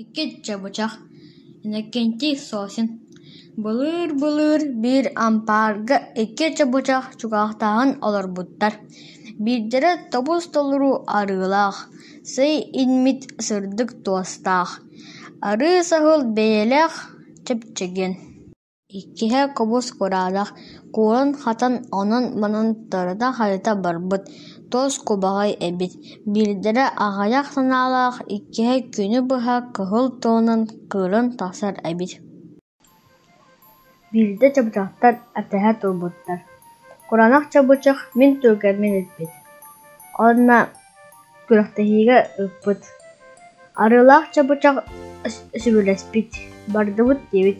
Иккиччэ бычах, Иннокентий Сосин былыыр-былыыр биир ампаарга икки чабычах чугаахтааһын олорбуттар. Биирдэрэ тобус-толору арыылаах, сый иҥмит сырдык туостаах, арыы саһыл бэйэлээх чэпчэкиэн Иккиһэ кобус кураанах, кууран-хатан, онон-манан тарыта-харыта барбыт, тос кубаҕай эбит, биирдэрэ аҕыйах санаалаах, иккиһэ күнү быһа кыһыл туонан кыыран тахсар эбит Биирдэ чабычахтар этэһэ турбуттар: «Куранах чабычах мин туругэрмин илпит» уонна күрэхтэһиигэ ыыппыт, арыылаах чабычах сөбүлэспит, бардыбыт диэбит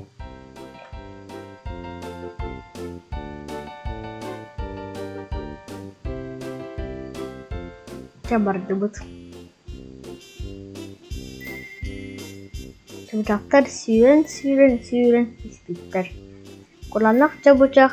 чэ бардыбыт чабычахтар сүүрэн сүүрэн сүүрэн испиттэр куланах чабычах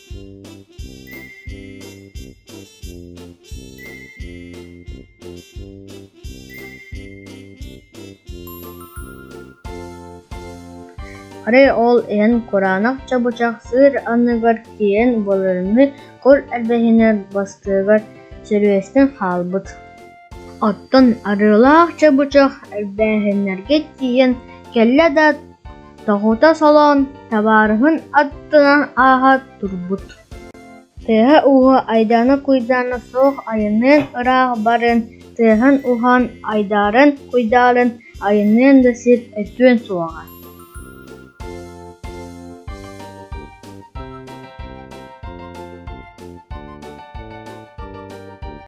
Арай ол эн кураанах чабычах сыыр анныгар тиийэн былырыыны кур эрбэһинэ бастыгар сөрүөстэн хаалбыт Оттон арыылаах чабычах эрбээһиннэргэ тиийэн кэллэ да, тоҕута солоон, табаарыһын аттынан ааһа турбут тыаһа-ууһа айдаана-куйдаана суох айанныан ыраах барыан тыаһын-уһаан айдааран-куйдаарын айанныан да сир өтүөн суоҕа